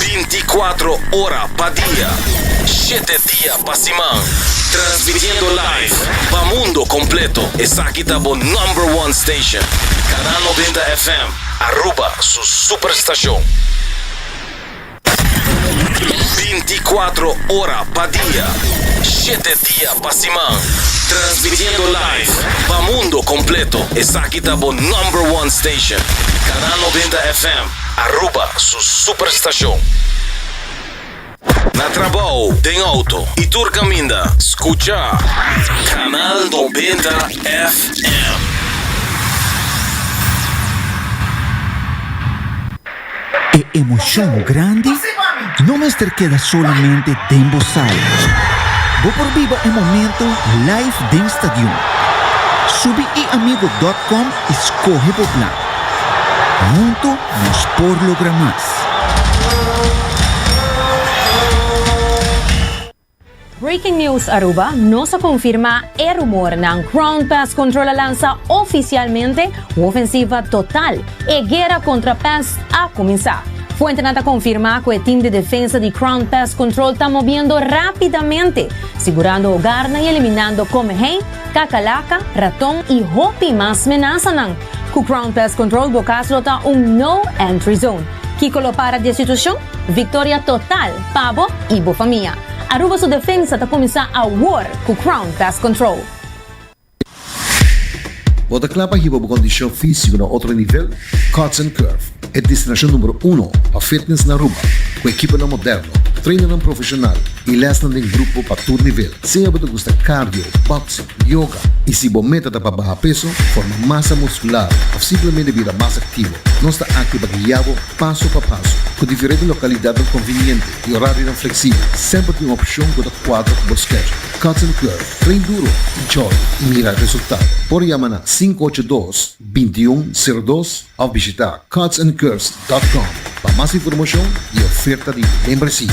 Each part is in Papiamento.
Binti kuatro ora pa dia, shete dia pa siman, transmitiendo live pa mundo completo. Esaki ta bo number one station, Canal Noventa FM, Aruba su superstacion. Binti kuatro ora pa dia, shete dia pa siman, transmitiendo live pa mundo completo. Esaki. Aki ta bo number one station, Canal Noventa FM, Aruba su super stacion. Na trabao, den auto y tur caminda, scucha Canal Noventa FM. E emocion grandi no mester keda solamente den bo sala. Bo por biba e momento live den stadion. Subi eamigo.com y scoge bo plan. Hunto nos por logra mas. Breaking News Aruba, Nos a konfirmá e rumornan, Ground Pest Control a lansa ofisialmente un ofensiva total, e guera kontra pest a kuminsá. Fuentenan ta konfirmá ku e tim di defensa di Ground Pest Control ta mobiendo rápidamente, sigurando hogarnan i eliminando komehei, kakalaka, raton i hopi mas menasanan. Ku Ground Pest Control bo kas lo ta un No Entry Zone. Kiko lo para di e situashon? Viktoria total! Pa bo y bo famia. Aruba su defensa ta cuminsa awor cu Crown Pest Control. Bo ta kla pa hiba bo kondishon físiko na otro nivel? Cuts and Curve, e destinashon numero uno pa fitness na Aruba, ku ekiponan moderno, trainannan profeshonal i lèsnan den grupo pa tur nivel. Sea bo ta gusta cardio, boxing, Yoga. I si bo meta ta pa baha peso, forma masa muskular òf simplemente bira mas aktivo, nos ta akí pa guia bo paso pa paso. Ku diferente lokalidatnan konviniente i orarionan fleksibel, semper tin un opshon ku ta kuadra ku bo skedjul. Cuts and Curve, Train duro, enjoy i mira resultado! Por yama na sinku ocho dos, binti un sero dos òf bishita cuts and curves dòt com pa mas informashon i oferta di membresia.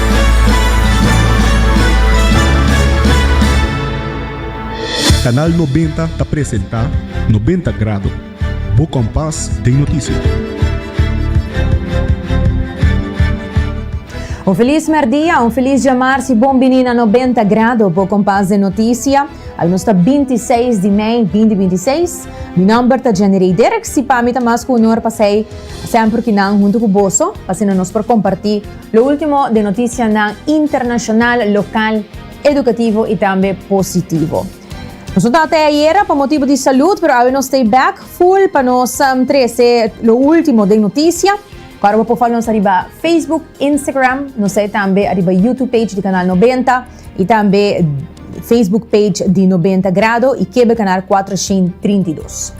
Canal Noventa ta presenta Noventa Grado, bo kompas den noticia. Un felis mèrdia, un felis djamarsi, bon bini na Noventa Grado, bo kompas den noticia. Almuns ta binti i seis di mei binti binti i seis. Mi nòmber ta Jenny Rey Dirks i pami ta mas ku onor pa sei semper ki nan huntu ku boso pa asina nos por kompartí Lo ultimo den notisianan internashonal, lokal, edukativo i tambe positivo. Nos no ta atè ayera pa motibu di salud, pero awe nos ta e bèk ful pa nos trese lo ultimo den notisia. Ku aroba por follow nos ariba Facebook, Instagram, nos ta e tambe ariba YouTube page di Kanal Nobenta i tambe Facebook page di Nobenta Grado i Kebe Kanal Kuatroshin Trinta i Dos.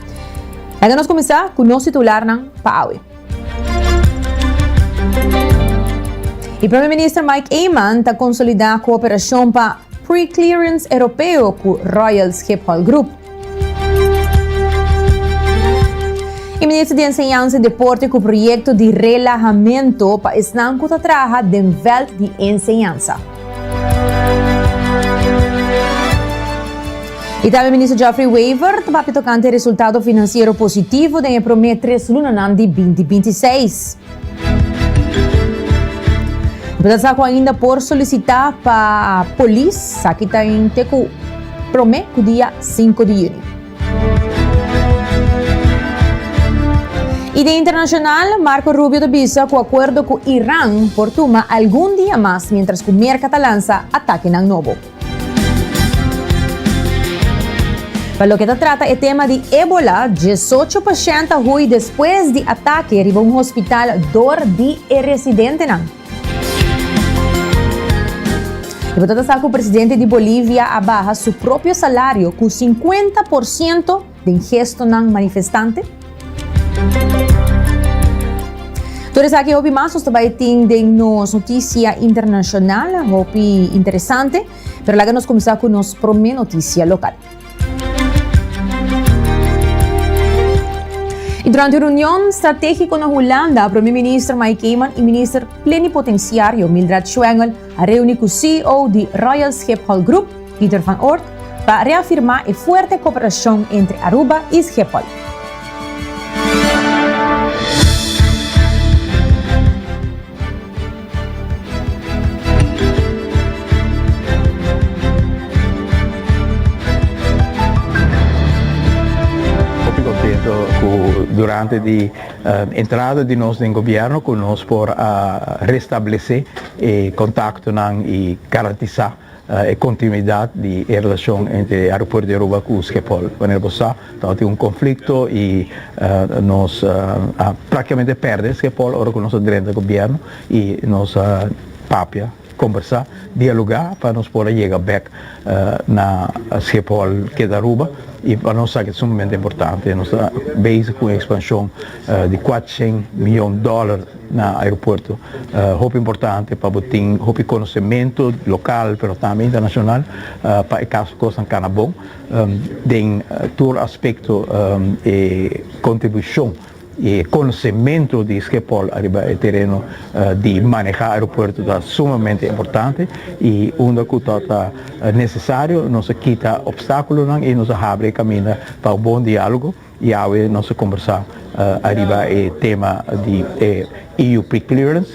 Laga nos kuminsá ku nos titularnan pa awe. E Prome Minister Mike Eman ta konsolidá kooperashon pa Pre-Clearance Eropeo ku Royal Schiphol Group. E Minister di Enseñansa i Deporte ku proyekto di relahamento pa esnan ku ta traha den vèlt di enseñansa. I tambe Minister Geoffrey Wever ta papia tocante e resultado financiero positivo den e prome tres lunanan di binti binti seis. Bo ta sa cu ainda por solicita pa Polis? Esaki ta hente cu prome cu dia sinku di juni. Y den internacional, Marco Rubio ta bisa cu acuerdo cu Iran por tuma algun dia mas mientras cu Merca ta lansa atakenan nobo. Pa loke ta trata e tema di Ebola, diesocho pashent a hui despues di atake riba un hospital dor di e residentenan. Bo ta ta sa ku presidente di Bolivia a baha su propio salario ku sinkuenta por siento den gestonan manifestante? Tur esaki hopi mas nos ta bai tin den nos notisia internashonal, hopi interesante. Pero laga nos kuminsá ku nos promé notisia lokal. Y durante un reunion strategico na Hulanda, Premier Minister Mike Eman y Minister Plenipotenciario Mildred Schwengel a reuni cu CEO di Royal Schiphol Group, Pieter van Oort, pa reafirma e fuerte cooperacion entre Aruba y Schiphol. Hopi contento cu durante di entrada di nos den gobierno cu nos por a restablece e contactonan y garantisa E kontinuidat di e relashon entre e aeropuerto di Aruba ku Skepol. Manera bo sa, tabatin un konflikto i nos a praktikamente pèrdè Skepol ora ku nos a drenta gobièrnu i nos a papia, kombersá, dialogá pa nos por a yega bèk na Skepol ke ta Aruba i pa nos sa ke ta sumamente importante. Nos ta beisik ku un ekspanshon di kuatrusent miyon dòler. Na aeropuerto ta hopi importante pa bo tin hopi konosementu lokal pero tambe internashonal pa e kaso kosnan kana bon den tur aspekto e kontribushon i e konosementu di Schiphol ariba e tereno di manehá aeropuerto ta sumamente importante i unda ku ta ta nesesario nos a kita opstákulonan i nos a habri e kaminda pa un bon diálogo. Yawe nos a kombersá ariba e tema di e EU Preclearance.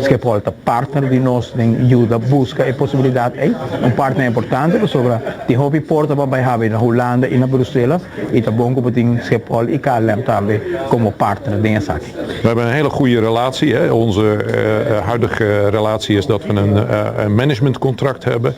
Schiphol ta partner di nos den yuda buska e posibilidat ei. Un partner importante pasobra tin hopi porta pa bai habri na Hulanda i na Brusela i ta bon ku bo tin Schiphol i KLM tambe komo partner den esaki. We hebben een hele goede relatie. Onze huidige relatie is dat we een managementcontract hebben.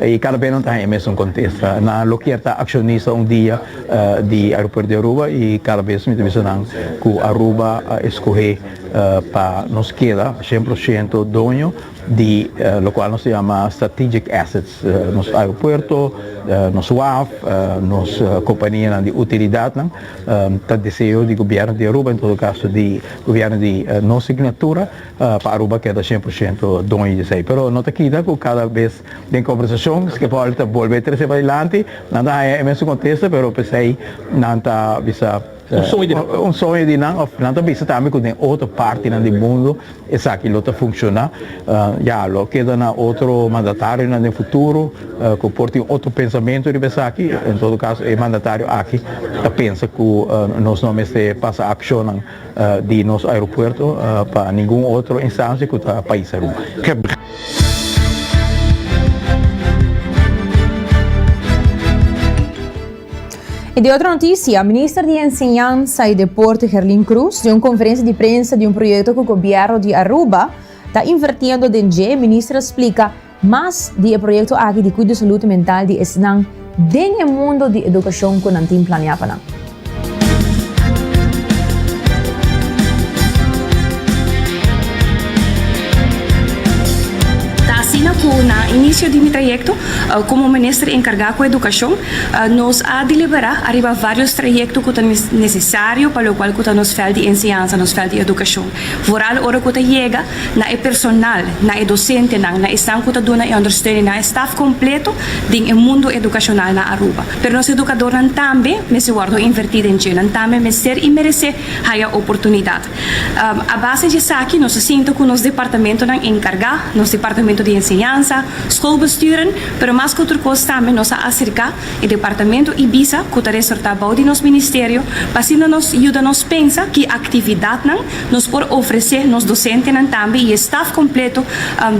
Y cada bes nan ta haña e mesun contesta. Nan lo kier ta accionista un dia di Aeropuerto di Aruba y cada bes mi ta bisa nan cu Aruba a escoge pa nos keda cien por ciento doño di locual nos ta yama strategic assets, nos aeropuerto, nos waf, nos companianan di utilidadnan. Ta deseo di Gobierno di Aruba, en todo caso di Gobierno di nos signatura. pa Aruba keda shen por shento doño di esei. Pero no ta kita ku kada bes den kombersashon Schiaparelli ta bolbe trese padilanti, nan ta haña e mesun kontesta pero p'esei nan ta bisa un soño di nan òf nan ta bisa tambe ku den otro partinan di mundu esaki lo ta funshoná. Ya lo keda na otro mandatarionan den futuro ku por tin otro pensamentu riba esaki. En todo kaso e mandatario aki ta pensa ku nos no mester pasa akshonnan. di nos aeropuerto pa ningun otro instancia cu ta pais Aruba. I di otro noticia, Minister di Enseñansa y Deporte Gerlin Cruz den un conferencia di prensa di un proyecto cu Gobierno di Aruba ta invertiendo den dje, Minister a splica Mas di e proyekto aki di kuido salud mental di esnan den e mundo di edukashon ku nan tin planeá pa nan. Ta asina ku na inisio di mi trayekto komo minister enkargá ku edukashon, nos a deliberá ariba vários trayekto ku ta nesesario pa lokual ku ta nos vèlt di enseñansa, nos vèlt di edukashon. Vooral ora ku ta yega na e personal, na e dosentenan, na esnan cu ta duna e ondersteuning, na e staf completo den e mundo educacional na Aruba. Pero nos educadornan tambe mester wordo inverti den dje, nan tambe mester y merece haya oportunidad. A base dje esaki nos a sinta cu nos departamentonan encarga, nos departamento di enseñansa, schoolbesturen, pero mas cu otro cos tambe nos a acerca e departamento Ibiza cu ta resorta bou di nos ministerio pa asina nos yuda nos pensa ki actividadnan Nos por ofresé nos dosentenan tambe y e staf completo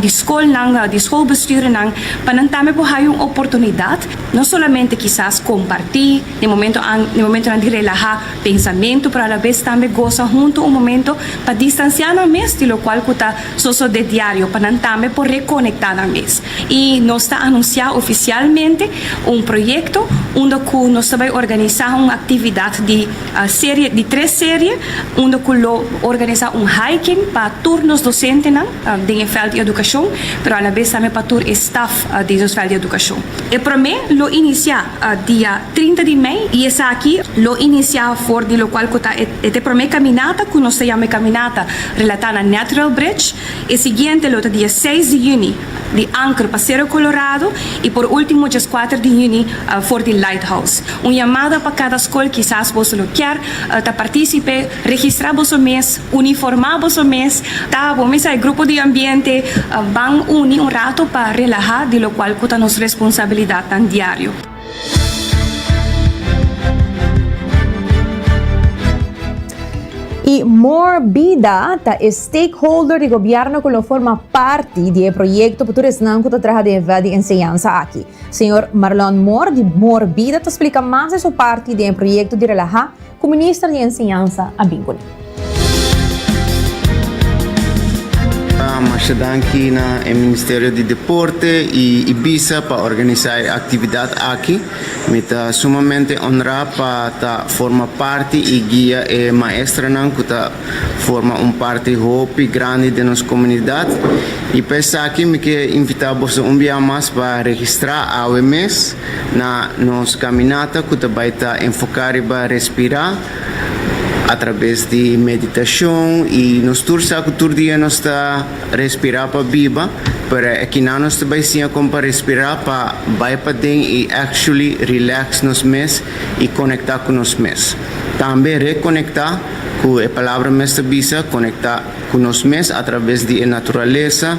di scolnan, di scolbestuurnan, pa nan tambe por haya un oportunidad no solamente kisas comparti den momento an, den momentonan di relaha pensamentu, pero alabes tambe goza hunto un momento pa distancia nan mes di locual cu ta sosode diario, pa nan tambe por reconecta nan mes. Y nos ta anuncia oficialmente un proyecto unda cu nos ta bay organiza un actividad di A serie di tres serie unda cu lo organisa un hiking pa tur nos docentenan den e veld di educacion pero alabes tambe pa tur e staf di nos veld di educacion. E prome lo inicia dia trinta di mei y esaki lo inicia for di locual cu ta e te prome caminata cu nos ta yama e caminata relata na Natural Bridge. E siguiente lo ta dia seis di juni. di Anker pa Cerro Colorado y por ultimo djes kuater di huni for di Lighthouse. Un yamada pa kada skol kisas boso lo kier ta participe, registra boso mes, uniforma boso mes ta bo mester hay grupo di ambiente ban uni un rato pa relaha di lo cual cu ta nos responsabilidadnan diario. Y More Bida ta e stakeholder di Gobierno cu lo forma parti di e proyecto pa tur esnan cu ta traha denvra di enseñansa aki. Señor Marlon More di More Bida ta splica mas di su parti den e proyecto di relaha Cu Minister di Enseñansa a bin cun'e. Masha danki na e Ministerio di Deporte y Ibiza pa organisa e actividad aki. Mi ta sumamente honra pa ta forma parti y guia e maestranan cu ta forma un parti hopi grandi den nos comunidad. Y pa esaki mi kier invita boso un bia mas pa registra awe mes. Na nos kaminata ku ta bai ta enfoká riba respirá atrabes di meditashon i nos tur sa ku tur dia nos ta respirá pa biba, pero e kinan nos ta bai siña kon pa respirá pa bai paden i actually relax nos mes i konektá ku nos mes. Tambe rekonektá ku e palabra mes ta bisa konektá. ku nos mes atraves di e naturalesa,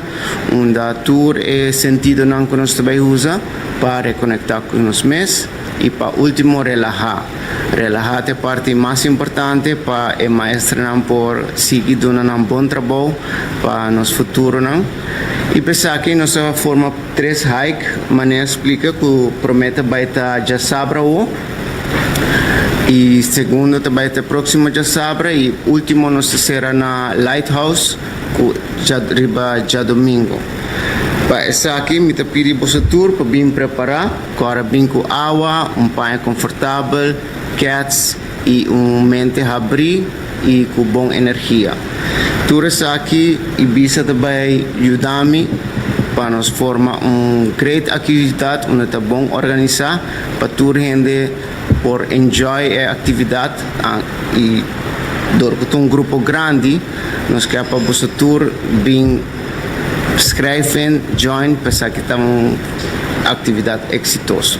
unda tur e sentidonan ku nos ta bai usa pa rekonektá ku nos mes i pa último relahá. Relahá ta e parti mas importante pa e maestrenan por sigui duna nan bon trabou pa nos futuronan. I pa esaki nos a forma tres hike, Mané a splika ku promé ta bai ta djasabra awo. y segundo ta bay ta proximo djasabra y ultimo nos ta cera na Lighthouse cu riba djadomingo. Pa esaki mi ta pidi boso tur pa bin prepara cu a bin cu awa, un paña confortabel, kets y un mente habri y cu bon energia. Tur esaki y bisa ta bay yudami pa nos forma un great actividad unda ta bon organisa. pa tur hende por enjoy e actividad y dor cu ta un grupo grandi nos ker pa boso tur bin schrijven, join, pa esaki ta un actividad exitoso.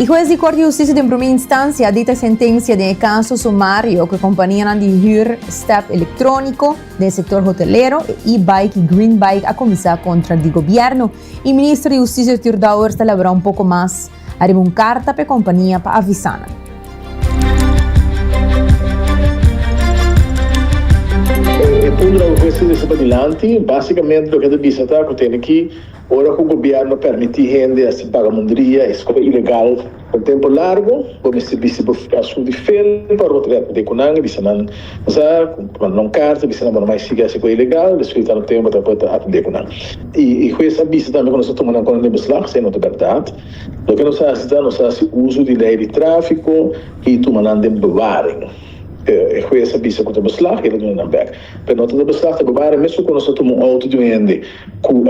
E hues di Kort di Hustisia den Promé Instancia a dita sentencia den e caso sumario cu e companianan di hür step electronico den e sector hotelero, e e-bike y green bike a cuminsa contra di Gobierno. E Minister di Hustisia Arthur Dauwers ta labora un poco mas ariba un carta pa e compania pa avisa nan. E punto nan cu cu e sentencia ta pa dilanti, basicamente loke e ta bisa ta cu tene ki. Ora cu gobierno permiti hende haci bagamundria, escoba ilegal, pa un tempo largo, bo mester bisti bo a su nivel pa rotreto di cu nan y bisa nan sa cu manda un carta bisa nan bo no mai sigui haci cosa ilegal, despues di tanto tempo ta pueda atende cu nan. Y y hues a bisa tambe cu nos ta tuma nan con den beslag, si e no ta berdad. Loke nos a haci ta nos a haci uso di ley di trafico y tuma nan den bewaring. E hues a bisa cu ta beslag y el a duna nan bek. Pero no ta debe straf ta gobare mesun cu nos a tuma un auto di un hende cu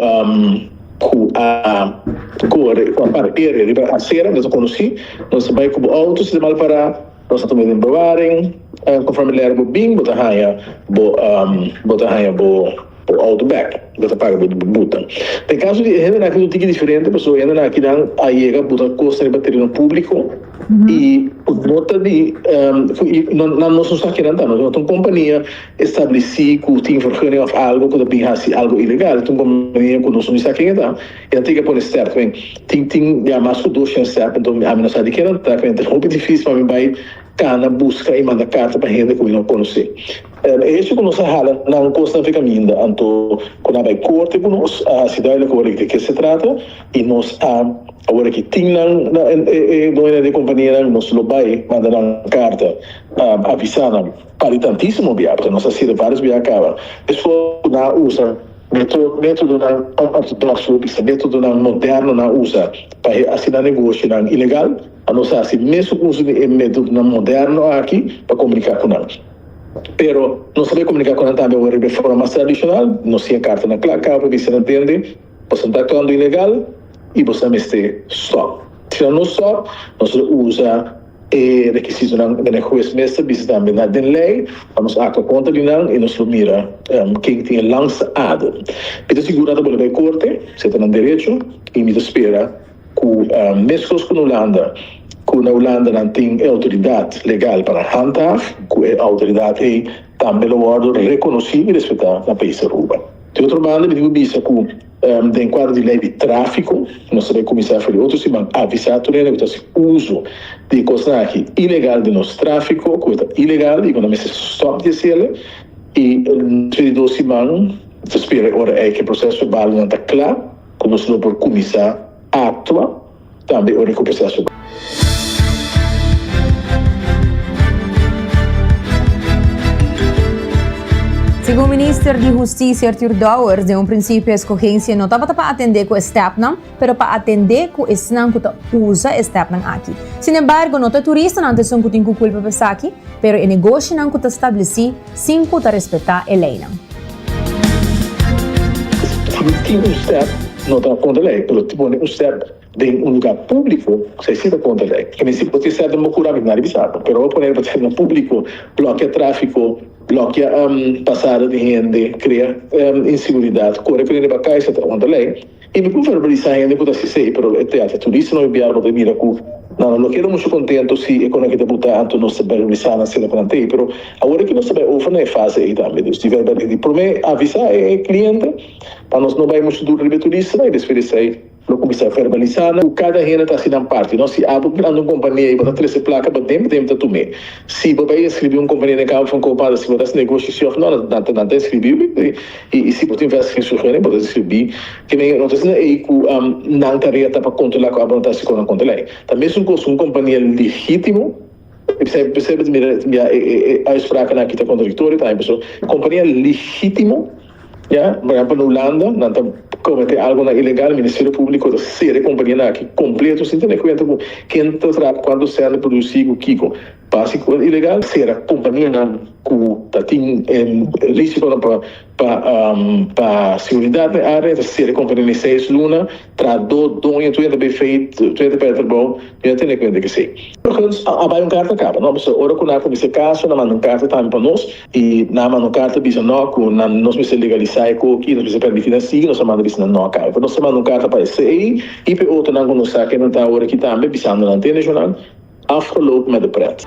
cu a core, cu a parkere riba acera, nos a conoci, nos a bay cu bo auto si ta mal para, nos a tuma e den bewaring, conforme lera bo bin bo ta haya bo bo ta haya bo bo auto back, bo ta paga bo bo buta. Den caso di e hendenan aki ta un tiki diferente, pasobra e hendenan akinan a yega buta cosnan riba tereno publico, y no ta di nan nos no sa kinan ta nos no ta un compania estableci cu tin vergunning of algo cu ta bin haci algo ilegal ta un compania cu nos no sa ken e ta y nan tin ke pone stert men tin tin ya mas cu dos shen stert enton ami no sa di kinan ta enton ta hopi dificil pa mi bay cana busca y manda carta pa hende cu mi no conoce. E hecho cu nos a hala nan cosnan a fica minder, anto cu nan a bay corte cu nos, a haci duidelijk awor di ke se trata y nos a, awor aki tin nan, e doño di e companianan, nos lo bay manda nan carta pa avisa nan, padi tantisimo bia, pasobra nos a sirbi varios bia a caba esfuerzo cu nan a usa metodonan ortodoxo, bisa metodonan moderno nan a usa pa haci nan negocionan ilegal, nos a haci mesun uso di e metodonan moderno aki pa comunica cu nan. Pero nos a bay comunica cu nan tambe awor riba e forma mas tradicional, nos tin e carta na placa pa bisti nan tende boso ta actuando ilegal y boso ta mester stop. Si nan no stop, nos lo usa e requisitonan den e huez mes ta bisti tambe na den ley pa nos actua contra di nan y nos lo mira ken tin e langsta ado. Mi ta seguro nan ta bolbe bay corte, si e ta nan derecho y mi ta spera Ku mescos ku na Hulanda, ku na Hulanda nan tin e outoridat legal pa nan handhaaf, ku e outoridat ei tambe lo wòrdu rekonosí i respetá na País Aruba. Di otro banda mi tin ku bisa ku den kuadro di lei di tráfiko, nos ta bay kuminsá for di otro siman avisá tur hende ku ta hasi uso di e kosnan aki ilegal den nos tráfiko, ku e ta ilegal i ku nan mester stòp di hasi el, i nos for di dos siman ta spera e ora ei ku e proseso balonan ta kla. Cu nos lo por cuminsa actua tambe ora e cu proceso ta. Segun Minister di Husticia Arthur Dowers, den un principio escogencia no tabata pa atende cu e stepnan, pero pa atende cu esnan cu ta usa e stepnan aki. Sinembargo, no ta e turistanan ta esun cu tin cu culpa pa esaki, pero e negoshinan cu ta estableci, Sin cu ta respeta e leynan. Si usted no ta contra ley pero ta pone usted den un lugar publico esey si ta contra ley. Kende si bo ta ser den bo curami nadie bisa bo pero bo pone bo ta ser na publico blokia trafico blokia pasada di hende crea inseguridad core cu rinde ba caiso ta contra ley. I mi por verbalisá hende ku ta asistí ei, pero e teater turista no e biar bo ta mira ku nan a lo keda mushu kontentu si e kona ke ta buta anto nos ta verbalisá nan sera pa nan tei. Pero awor aki nos ta bai over na e fase ei tambe. Dus di verbali di promé avisá e kliente pa nos no bai mushu dur riba e turistanan i despues di esei lo kuminsá verbalisá nan ku kada hende ta hasi nan parti. No, si abo grandi un kompania i bo ta trese plaka bo temp temp ta tum'é. Si bo bai enskribí un kompania den Cabo Francopan, si bo ta hasi negoshi si òf no, nan ta enskribí wi. I si bo tin vèst Hesus hoen ei, bo ta skribí, Ke men yehonotesnan ei ku nan tarea ta pa kontrolá ku abonotá si konnan konta lei? Ta mesun kos ku un kompania legítimo. Esei p'esei bo ta mira bia e uitsprakennan akí ta kontradiktorio. Por ehèmpel, un kompania legítimo, ya, por ehèmpel na Hulanda, nan ta kometé algunan ilegal, ministerio públiko ta sera e kompanianan akí kompleto sin tene kuenta ku ken ta traha, ku kuantu sèl ta produsí i ku kiko. Basi ku el ilegal sera kompanianan ku ta tin e risikonan pa seguridat den área ta sera e kompania den seis luna tras do doño tur yanta bai feit tur yanta pèrdè trabou tur yanta tene kuenta ke sei. Huns a bai un karta kaba no so ora ku nan a kuminsá e kaso nan manda un karta tambe pa nos i nan a manda un karta bisa no ku nan nos mester legalisá e koki nos mester permití nan sigui nos a manda bisa nan no a kaba pues nos ta manda un karta pa esei i pa e otronan ku nos sa ke nan ta ora aki tambe bisando nan te neshonan Afgeloop met de pret.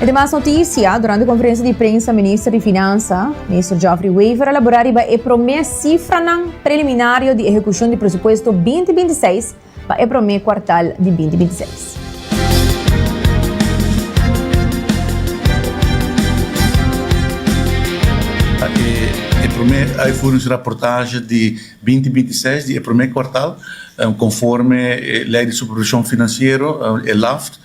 E demas noticia, Durante conferencia di prensa Minister di Finansa, Minister Geoffrey Wever a labora riba e prome cifranan preliminario di ehecucion di Presupuesto 2026, pa e promé kuartal di binti binti seis. Aki e promé uitvoeringsrapportage di binti binti seis di e promé kuartal, konforme e Lei di Supervishon Finansiero, e LAFT.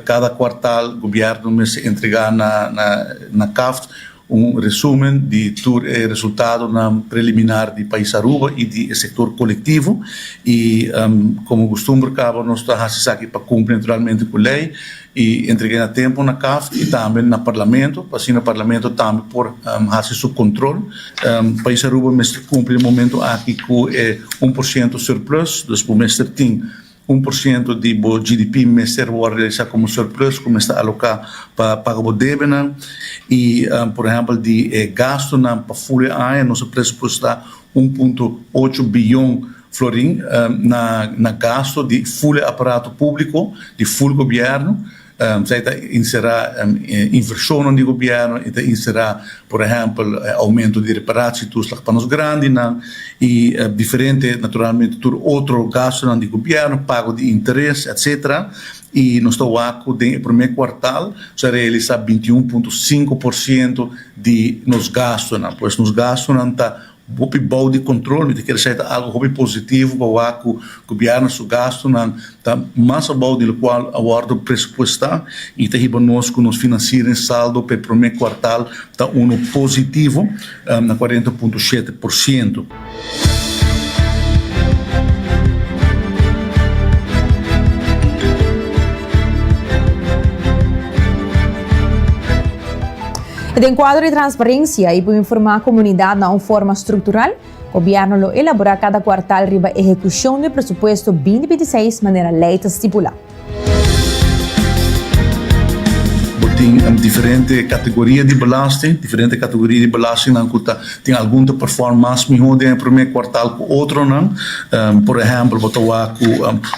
Kada kuartal Gobièrnu mester entregá na KAFT Un resumen di tur e resultadonan preliminar di Pais Aruba y di e sector colectivo y como costumbre caba nos ta haci esaki pa cumpli naturalmente cu ley y entregue na tempo na caf y tambe na Parlamento pa asina Parlamento tambe por haci su control. Pais Aruba mester cumpli momento aki cu e un por ciento surplus, dus bo mester tin Un por siento di bo GDP mester wòrdu realisá komo surplus ku mester aloká pa paga bo debenan. I por ehèmpel di e gastunan pa ful e aña nos a presupuestá un punto ocho biyon florin na gastu di ful e aparato públiko, di ful gobièrnu. Esei ta inserá invershonnan di gobièrnu i ta inserá, por ehèmpel, oumentu di reparashitoeslag pa nos grandinan i diferente, naturalmente, tur otro gastunan di gobièrnu, pago di interes, etsetera. I nos ta wak ku den e promé kuartal nos a realisá binti un punto sinku por siento di nos gastunan. Pues nos gastunan ta Hopi bao di control, mi ta kere sa e ta algo hopi positivo pa wak cu Gobierno su gastonan ta mas abao di locual a wordo presupuesta y ta hiba nos cu nos financiering saldo pa e prome cuartal ta uno positivo na cuarenta punto shete por ciento. I den kuadro di transparensia i pa informá komunidat na un forma struktural, gobièrnu lo elaborá kada kuartal riba ehekushon di presupuesto binti binti seis manera lei ta stipulá. Bo tin diferente kategoria di belasting. Diferente kategoria di belastingnan ku ta tin algun ta perform mas mihó den e promé kuartal ku otronan. Por ehèmpel bo ta wak ku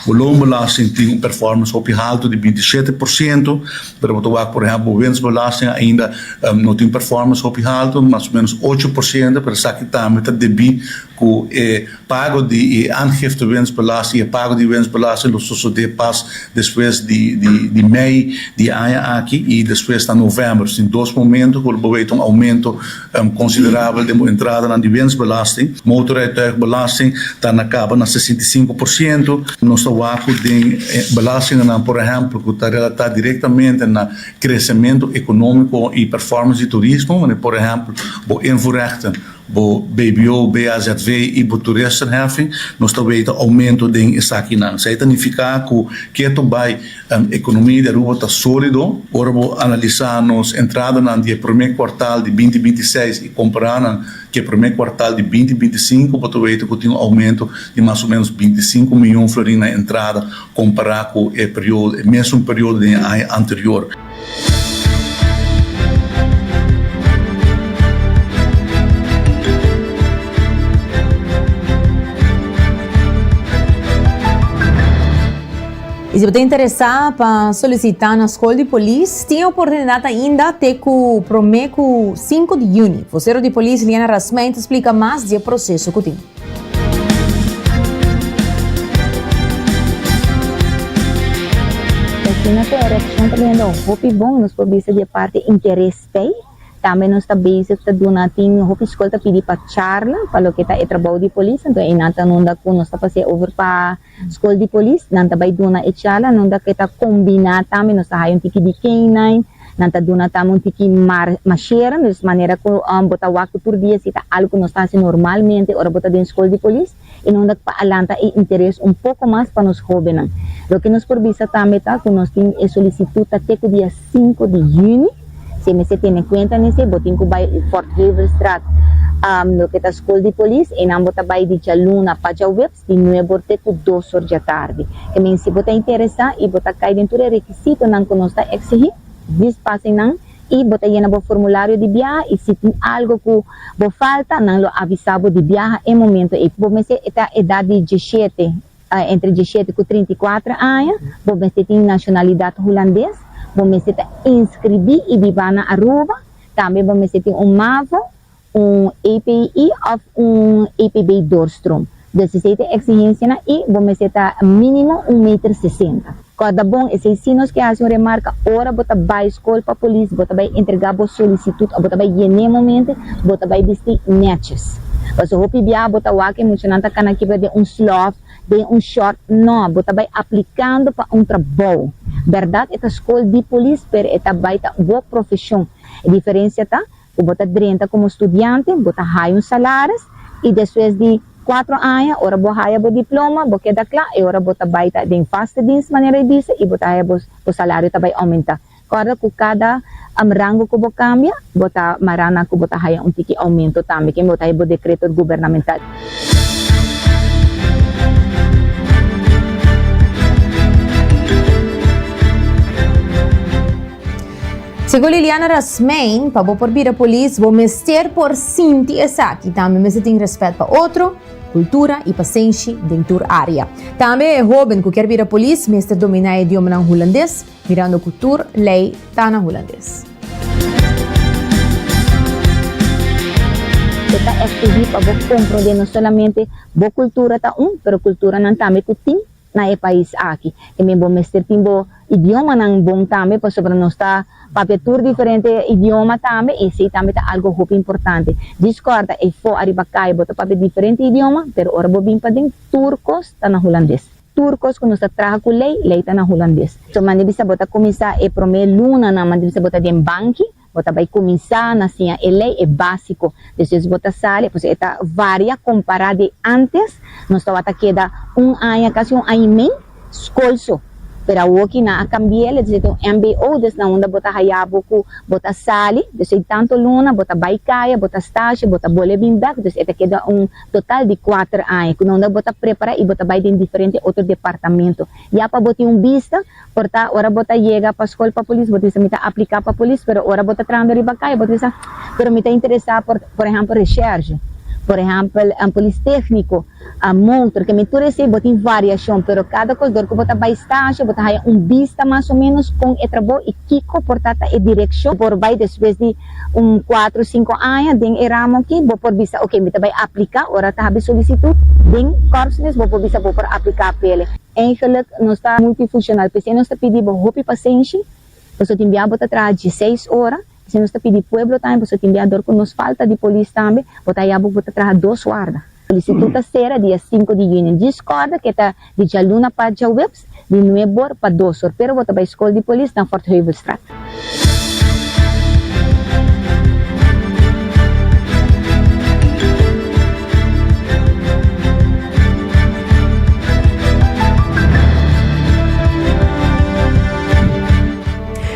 bo loonbelasting tin un performance hopi haltu di binti shete por siento. Pero bo ta wak por ehèmpel bo wensbelasting ainda no tin performance hopi haltu, mas o menos ocho por siento, pero esaki tambe ta debí ku e pago di e aangifte wensbelasting i e pago di wensbelasting lo sosodé pas despues di mei di e aña aki i despues na novèmber. Tin dos momentu ku lo por bai ta un oumento Cambio considerabel den bo entradanan di winstbelasting. Motorrijtuigbelasting ta na caba na sesenta i sinku por ciento. Nos ta wak cu den belastinganan, por ehempel, cu ta relata directamente na crecemento economico y performance di turismo, manera por ehempel bo invoerrechten, bo bbo, BAZV y bo toeristenheffing, nos ta weten aumento den esakinan. Esaki ta nifica cu kier tobai Nan economia di Aruba ta solido. Ora bo analisa nos entradanan di e prome cuartal di binti binti i seis i compara nan cu e prome cuartal di binti binti i sinku bo ta weta cu tin un aumento di mas o menos binti i sinku mion florin na entrada compara cu e periodo e mesun periodo den e aña anterior. Y si bo ta interesa pa solicita na School di Polis, tin e oportunidad ainda te cu prome cu 5 di juni. Vocero di Polis Liana Rasmijn ta splica mas di e proceso cu tin. Asina cu e reaccion ta bihendo hopi bon, nos por bisa di e parti interes t'ey. Tambe nos ta bezig ta duna tin hopi scol ta pidi pa charla pa loke ta e trabou di polis, anto ey nan ta nunda cu nos ta pasia over pa. Skol di Polis, nan ta bai duna e charla, nos ta ke ta kombiná tambe, nos ta haya un tiki di K-nine, nan ta duna tambe un tiki mar mashera, mes manera ku bo ta wak tur dia si ta algu ku nos ta hasi normalmente ora bo ta den Skol di Polis, i nos ta pa alanta e interes un poko mas pa nos hóbennan. Loke nos por bisa tambe ta ku nos tin e solisitut ta te ku dia sinku di yüni, si e mester tene en kuenta nesei, bo tin ku bai Fort Heverstraat, loke ta Skol di Polis, einan bo ta bai di djaluna pa djaweb, di nuebor te ku dosor dja tardi. E men si bo ta interesá i bo ta kai den tur e rekisitonan ku nos ta eksigí, vis p'hasi nan i bo ta yena bo formulario di biaha i si tin algu ku bo falta nan lo avisá bo di biaha e momentu ei. Bo mester ta edat di diesshete, entre diesshete ku trinta i kuater aña, bo mester tin nashonalidat hulandes, bo mester ta inskribí i biba na Aruba, tambe bo mester tin un mavo, un API òf un APB doorstroom. Desiesei ta e eksigensianan i bo mester ta mínimo un meter sesenta. Kòrda bon, esei sinos ke hasi un remarka ora bo ta bai skol pa polis, bo ta bai entregá bo solisitut òf bo ta bai yen'é momente, bo ta bai bistí nètjes. Pasobra hopi bia bo ta wak ke muchanan ta kana kibra den un slòf, den un shòrt. Nò, bo ta bai aplikando pa un trabou. Bèrdat e ta skol di polis, pero e ta bai ta bo profeshon. E diferensia ta. Ku bo ta drenta komo studiante, bo ta haya un salaris, i despues di kuater aña, ora bo haya bo diploma, bo keda kla, e ora bo ta bai ta den vaste dienst, manera e bisa, i bo ta haya bo bo salario ta bai oumenta. Kòrda ku kada rango ku bo kambia, bo ta mará na ku bo ta haya un tiki oumento tambe, ke bo ta haya bo dekreto gubernamental. Segun Liliana Rasmeijn, pa bo por bira polis, bo mester por sinti esaki. Tambe mester tin rèspèt pa otro, kultura i pasenshi den tur área. Tambe e hóben ku kier bira polis mester dominá e idiomanan hulandes, mirando ku tur lei ta na hulandes. E ta esklui pa bo kompro den no solamente bo kultura ta un, pero kulturanan tambe ku tin. na e pais aki. Tambe bo mester tin bo idiomanan bon tambe pasobra nos ta papia tur diferente idioma tambe i esei tambe ta algu hopi importante. Djis kòrda, eifo ariba kai bo ta papia diferente idioma, pero ora bo bin paden tur kos ta na hulandes. Tur kos ku nos ta traha ku lei, lei ta na hulandes. So, manda bisa bo ta kuminsá e promé lunanan, manda bisa bo ta den banki, Bo ta bai kuminsá na siña e lei, e básiko. Despues bo ta sali, pues e ta varia kompará di ántes. Nos tabata keda un aña, kasi un aña i mei, skol so. Pero awor ki nan a kambié, lo distinto un mbo, desna unda bo ta haya bo ku bo ta sali. Despues di tantu luna bo ta bai kaya, bo ta stasio, bo ta bole bin bèk. Despues e ta keda un total di kuater aña, ku nan unda bo ta prepará i bo ta bai den diferente otro departamento. Ya pa bo tin un bista. Por ta ora bo ta yega pa skol pa polis bo ta bisa mi ta apliká pa polis pero ora bo ta trahando riba kai bo ta bisa pero mi ta interesá por por ehèmpel resherge por ehèmpel polis tékniko motor ke mi tur esei bo tin variashon pero kada kosdor ku bo ta bai stashe bo ta haya un bista mas o ménos kon e trabou i kiko por ta ta e direkshon por bai despues di un kuatro sinku aña den e ramo aki bo por bisa oke mi ta bai apliká ora ta hab'e solisitut den kòrps mes bo por bisa bo por apliká p'e. Eigenlijk nos ta multifuncional p'esei nos ta pidi bo hopi pasenshi, boso tin bia bo ta traha dieseis ora, p'esei nos ta pidi pueblo tambe boso tin bia dor ku nos falta di polis tambe bo ta haya bo ku bo ta traha dos warda. Solicitud ta sera dia sinku di junio. Discorda ke ta di djaluna pa djaweps, di nuebor pa dosor, pero bo ta bai Skol di Polis na Fort Heuvelstraat.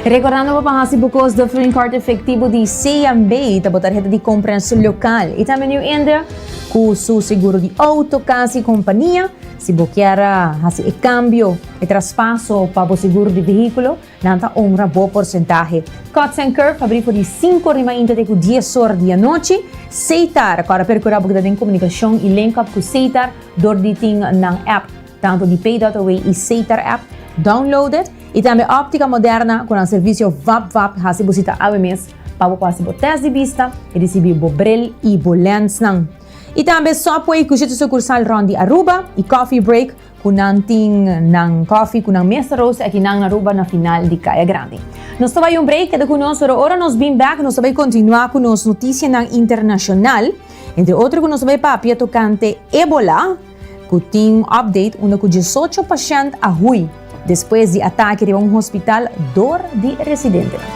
Rekordando bo pa hasi bu kos dor Flin Card efektibo di CNB ta bo tarheta di kompras lokal i tambe New India ku su seguro di outo, kas i kompania. Si bo kier hasi e kambio, e traspaso pa bo seguro di vehíkulo, Nan ta ongra bo porsentahe. Cuts and Curve ta abrí for di sinku rima inte te ku dies or di anochi. Seitar kòrda perkura bo ke ta den komunikashon i link up ku Seitar dor di tin nan app, tantu di Pay Dot Away i Seitar app. Download it! I tambe Optica Moderna ku nan servisio vap vap hasi bo sita awe mes pa bo por hasi bo tèst di bista i risibí bo bril i bo lènsnan. I tambe Subway ku siete sukursal rònt di Aruba i Coffee Break Cu nan tin nan coffee cu nan mesa roos aki nan Aruba na final di Caya Grande. Nos ta bay un break, keda cu nos pero ora nos bin back nos ta bay continua cu nos noticianan internacional, entre otro cu nos ta bay papia tocante Ebola cu tin update unda cu diesocho pashent a hui despues di atake riba un hospital door di residentenan.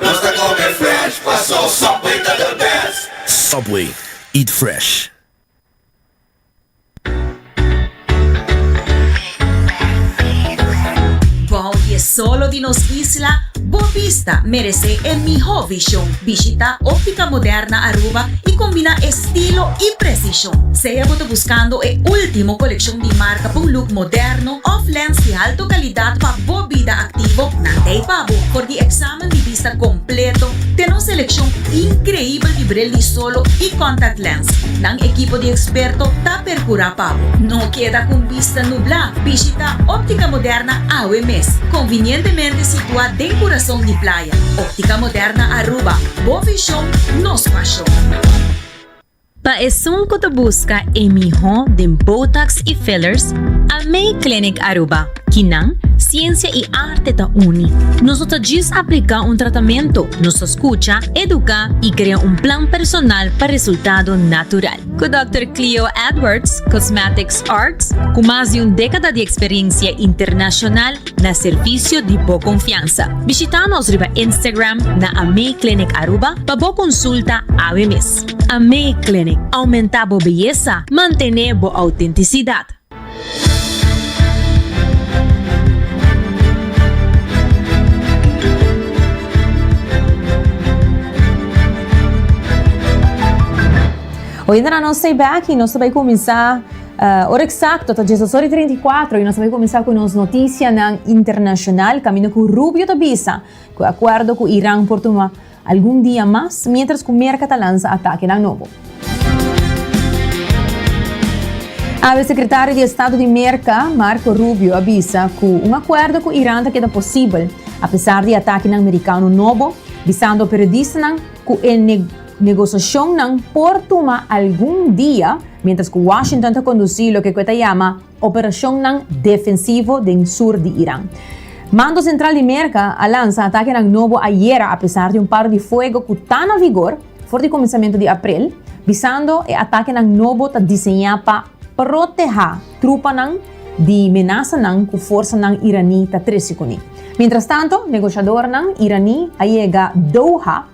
Nos ta come fresh, paso Subway ta the best. Subway, eat fresh. Bou di e solo di nos isla, bo bista merece e miho vision. Bishita Optica Moderna Aruba y combina estilo y precision. Sea bo ta buscando e ultimo coleccion di marca pa un look moderno, òf lens di halto kalidat pa bo bida aktivo na tei pa bo for di eksamen di bista kompleto. Ten un selekshon inkreibel di bril di solo i kòntact lens. Nan ekipo di eksperto ta perkurá pa bo. No keda ku bista nublá! Bishitá Óptica Moderna awe mes! Konvinientemente situá den kurason di playa, Óptica Moderna Aruba, bo vishon, nos pashon. Pa esun cu ta busca e miho den Botox y Fillers, Almay Clinic Aruba, Kinan, Ciencia y Arte ta uni. Nos no ta djis aplica un tratamento, nos ta scucha, educa y crea un plan personal pa resultado natural. Cu Dòkter Cleo Edwards, Cosmetics Arts, cu mas di un decada di experiencia internacional, na servisio di bo konfiansa. Bishita nos riba Instagram na AME Clinic Aruba pa bo konsulta awe mes. AME Clinic, Oumentá bo beyesa, mantené bo outentisidat. Hoy nan a nos stay back y nos ta bay cuminsa Uh, ora exacto ta Jesus ora 34 y nos a comenzar cu nos noticianan internacional camino cu Rubio ta bisa cu acuerdo cu Iran por tuma algun dia mas mientras cu Merca ta lanza atakenan nobo. Awe secretario di Estado di Merca, Marco Rubio, a bisa cu un acuerdo cu Iran ta keda posibel apesar di atakenan Mericano nobo, bisando periodistanan cu e Negosiashonnan por tuma algun dia miéntras ku Washington ta kondusí loke ku e ta yama operashonnan defensivo den sur di Iran. Mando Sentral di Merka a lansa atakenan nobo ayera apesar di un paro di fuego ku ta na vigor for di kuminsamentu di aprel, bisando e atakenan nobo ta diseñá pa protehá trupanan di menasanan ku forsanan iraní ta trese kuné. Miéntrastanto, negoshadornan iraní a yega Doha,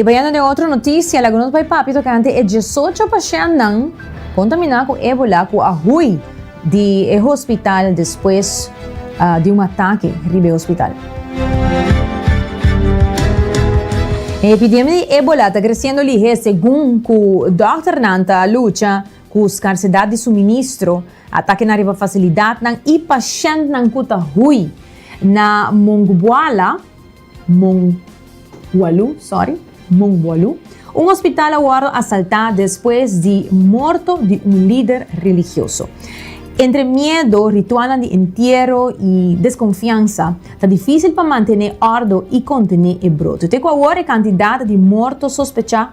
Y bayando den otro noticia, lagunos bay papi tocante e 18 pacientnan contamina cu ébola cu a hui di e hospital despues uh, di un ataque riba e hospital. E epidemia di ébola ta creciendo lihe segun cu dokternan ta lucha ku skarsidat di suministro, atakenan riba fasilidatnan i pashèntnan ku ta hui na Mongbuala, Mongwalu, sorry, Mongwalu, un hospital a wòrdu asaltá despues di morto di un lider religioso. Entre miedo, ritualnan di entiero i deskonfiansa, ta difísil pa mantené òrdu i kontené e brote. Te ku awor e kantidat di morto sospechá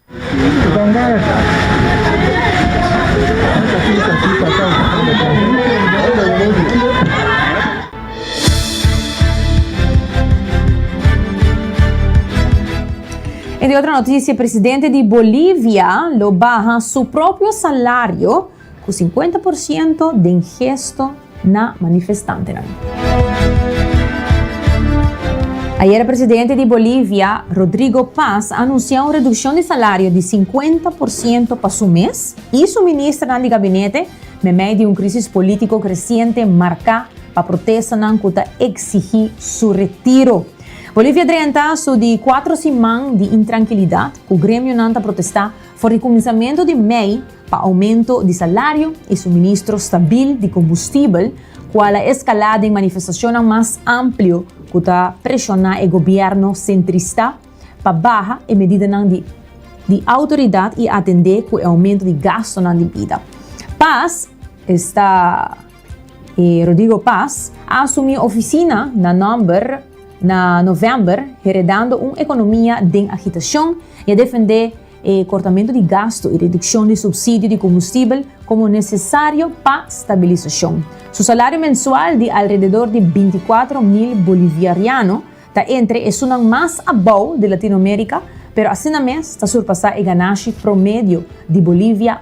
En di otro noticia, presidente di Bolivia lo baha su propio salario Cu cincuenta por ciento den gesto na manifestantenan. Ayer presidente di Bolivia, Rodrigo Paz, a anuncia un reduccion di salario di cincuenta por ciento pa su mes y su ministernan di gabinete meimei di un crisis politico creciente marca pa protestanan cu ta exigi su retiro. Bolivia drenta su di cuatro siman di intranquilidad cu gremionan ta protesta for di cuminsamentu di mei, pa oumento di salario i suministro stabil di kombustibel, ku al a eskalá den manifestashonnan mas amplio ku ta preshoná e gobièrnu sentrista pa baha e medidanan di di outoridat i atendé ku e oumento di gastonan di bida. Pas esta e Rodrigo Pas a asumí ofisina na nòmber na novèmber heredando un ekonomia den agitashon i a defendé e kortamentu di gastu i redukshon di supsidio di kombustibel komo nesesario pa stabilisashon. Su salario mensual di alrededor di bintikwatro mil boliviariano ta entre esunnan mas abou di Latinoamérika, pero asina mes ta surpasá e ganashi promedio di Bolivia,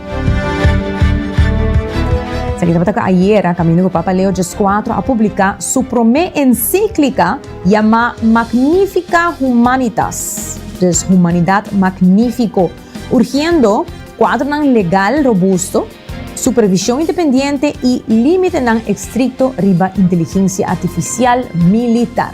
Esaki tabata ayera, kaminda ku Papa Leo XIV a publiká su promé ensíklika yamá Magnifica Humanitas, dus Humanidat Magnífiko, urgiendo kuadronan legal robusto, supervishon independiente i límitenan estrikto riba inteligensia artifisial militar.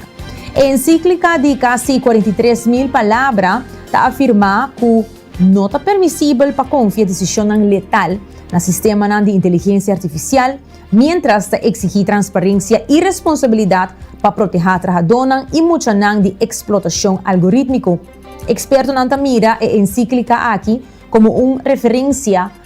E ensíklika di kasi kuarenta i tres mil palabra ta afirmá ku No ta permisibel pa konfia desishonnan letal na sistemanan di inteligensia artifisial, miéntras ta eksigí transparensia i responsabilidat pa protehá trahadónan i muchanan di eksplotashon algorítmiko. Ekspertonan ta mira e ensíklika aki komo un referensia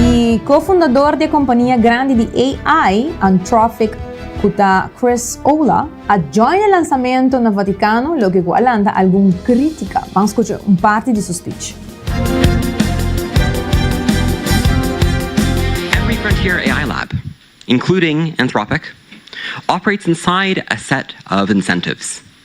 I co-fundador di e kompania grandi di AI, Anthropic, ku ta Chris Olah, a join e lansamento na Vatikano, loke ku a lanta algun krítika. Ban skucha un parti di su spich. Every frontier AI lab, including Anthropic, operates inside a set of incentives.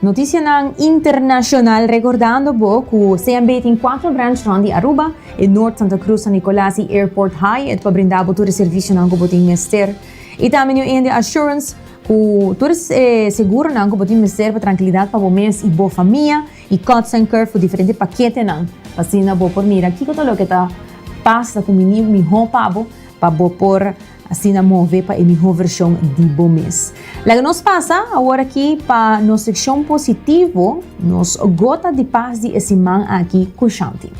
Noticianan Internacional Recordando bo cu CMB tin cuatro branch rond di Aruba, e Noord, Santa Cruz, San Nicolas y Airport High et pa brinda bo tur e servicionan cu bo tin mester. Y tambe New India Assurance cu tur e seguronan cu bo tin mester pa trankilidad pa bo mes y bo famia y Kods and Curve cu diferente paketenan pa asina bo por mira kico ta loke ta pasa cu mihó pa bo pa bo por Asina move pa e miho version di bo mes. Laga nos pasa awor aki pa nos seccion positivo, nos gota di pas di e siman aki cu Shanti.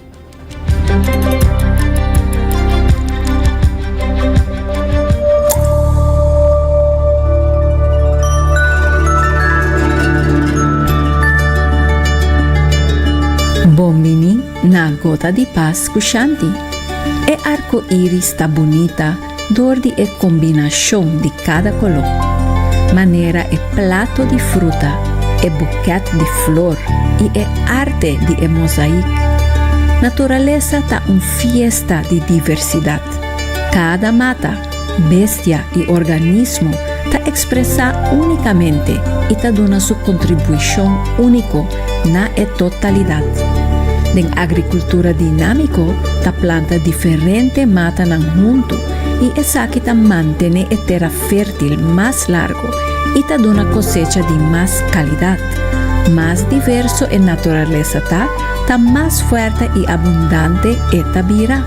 Bon bini. Na Gota di Pas ku Shanti. E arko iris ta bunita dor di e kombinashon di kada koló, manera e plato di fruta, e bukèt di flor i e arte di e mosaik. Naturalesa ta un fiesta di diversidat. Kada mata. Bestia i organismo ta ekspresá únikamente i ta duna su kontribuishon úniko na e totalidat. Den agrikultura dinámiko ta planta diferente matanan huntu i esaki ta mantené e tera fértil mas largu i ta duna kosecha di mas kalidat. Mas diverso e naturalesa ta, ta mas fuerte i abundante e ta bira.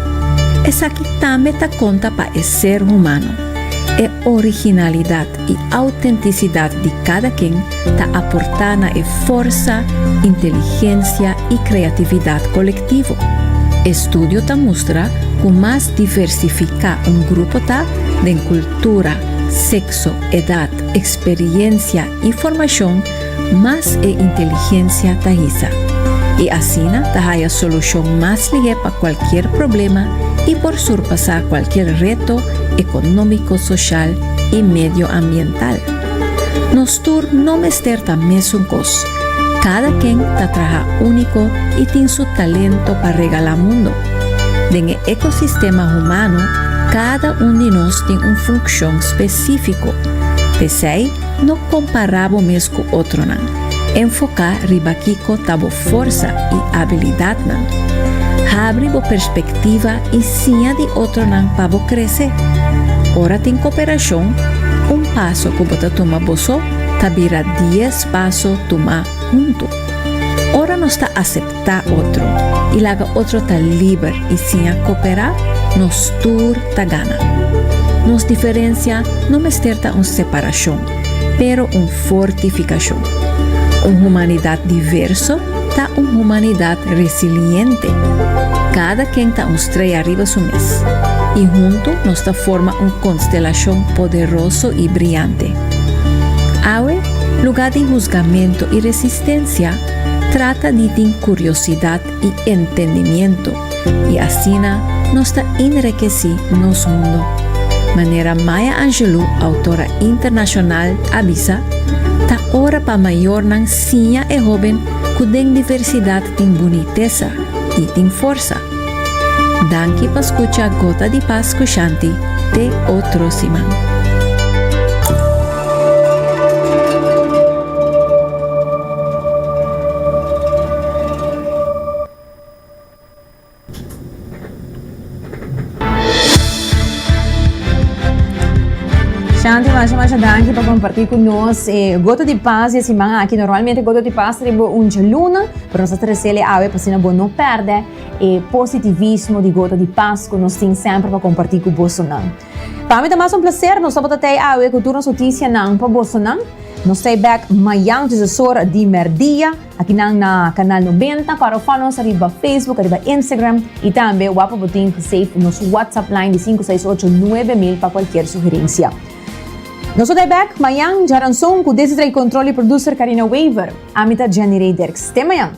Esaki. Tambe ta konta pa e ser humano. E originalidad y autenticidad di cada ken ta aporta na e forsa, inteligencia y creatividad colectivo. Estudio ta mustra cu mas diversifica un grupo ta den cultura, sexo, edad, experiencia y formacion, mas e inteligencia ta hisa, y asina ta haya solucion mas lihe pa cualkier problema y por surpasa cualkier reto economico, social y medioambiental. Nos tur no mester ta mesun cos, cada ken ta traha unico y tin su talento pa regala mundo. Den e ecosistema humano cada un di nos tin un funcion specifico, pesey, No kompará bo mes ku otronan. Enfoká riba kiko ta bo forsa i abilidatnan. Habri bo perspektiva i siña di otronan pa bo krese. Ora tin koperashon, un paso ku bo ta tuma bo so ta bira dies paso tuma huntu. Ora nos ta aseptá. ta otro y laga otro ta liber y siña cooperá, nos tur ta gana. Nos diferencia no mester ta un separacion, pero un fortificacion. Un humanidad diverso ta un humanidad resiliente. Cada ken ta un streya riba su mes y hunto nos ta forma un constelacion poderoso y briante. Awe, lugar di huzgamento y resistencia, Trata di tin curiosidat y entendimiento y asina nos ta inrekeci nos mundo. Manera Maya Angelou, autora internacional, a bisa, Ta ora pa mayornan siña e hoben cu den diversidad tin bunitesa y tin forsa. Danki pa scucha Gota di Pas cu Shanti te otro siman. Shanti, masha masha danki pa comparti cu nos e gota di pas di siman aki. Normalmente gota di pas riba un djaluna, pero nos a tresele awe pa asina bo no perde e positivismo di gota di pas cu nos tin semper pa comparti cu bosonan. Pa mi ta mas un placer nos tabata ta ei awe cu tur nos noticianan pa bosonan. Nos ta ei back mayan tusesor di merdia aki nan na Canal Noventa. Para ofan nos ariba Facebook, ariba Instagram y tambe wapper bo tin pa save nos WhatsApp line di sinku seis ocho nuebe mil pa cualkier sugerencia. Nos ta ei back mayan djaranzon cu Desi Drey Control y producer Carina Wever. Ami ta Jenny Rey Derks. Te mayan!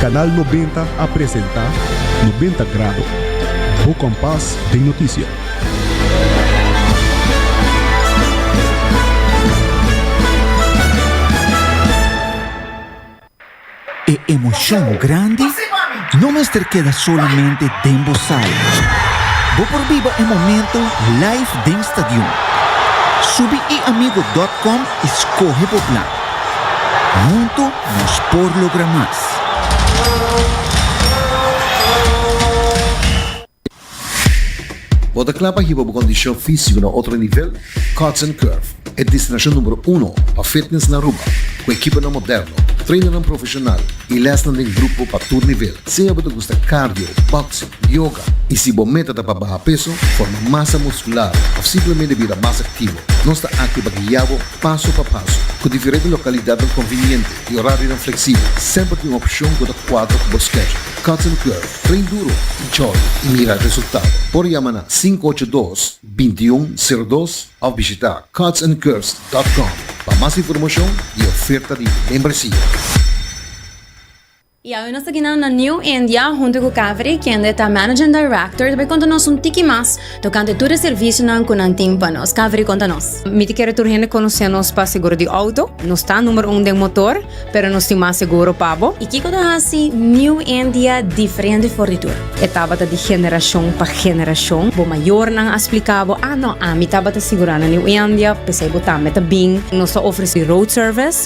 Canal Nobenta a presenta Nobenta Grado, bo kompas den noticia. E emocion grandi no mester keda solamente den bo sala. Bo por biba e momento live den stadion. Subi eamigo.com i skohe bo plan. Huntu nos por logra mas! Bo ta kla pa hiba bo kondishon físiko na otro nivel? Cuts and Curve, e destinashon numero uno pa fitness na Aruba, ku ekiponan moderno, trainannan profeshonal i lèsnan den grupo pa tur nivel. Sea bo ta gusta cardio, boxing, yoga i si bo meta ta pa baha peso, forma masa muskular òf simplemente bira mas aktivo, nos ta aki pa guia bo. Paso pa paso, ku diferente lokalidatnan konviniente i orarionan fleksibel, semper tin un opshon ku ta kuadra ku bo skedjul. Cuts and Curve, Train duro i jòli i mira resultado! Por yama na sinku ocho dos, binti un seru dos òf bishita cutsandcurves dòt kòm pa mas informashon i oferta di membresia. I awe nos ta kina na New India huntu ku Kaveri kende ta Managing Director ta por konta nos un tiki mas tokante tur e servisionan ku nan tin pa nos. Kaveri konta nos. Mi ta kere tur hende konosé nos pa seguro di outo. Nos ta numer un den motor, pero nos tin mas seguro pa bo. I kiko ta hasi New India diferente for di tur? E tabata di generashon pa generashon. Bo mayornan a splika bo, a no, ami tabata sigurá na New India, p'esei bo tambe ta bin. Nos ta ofresí road service.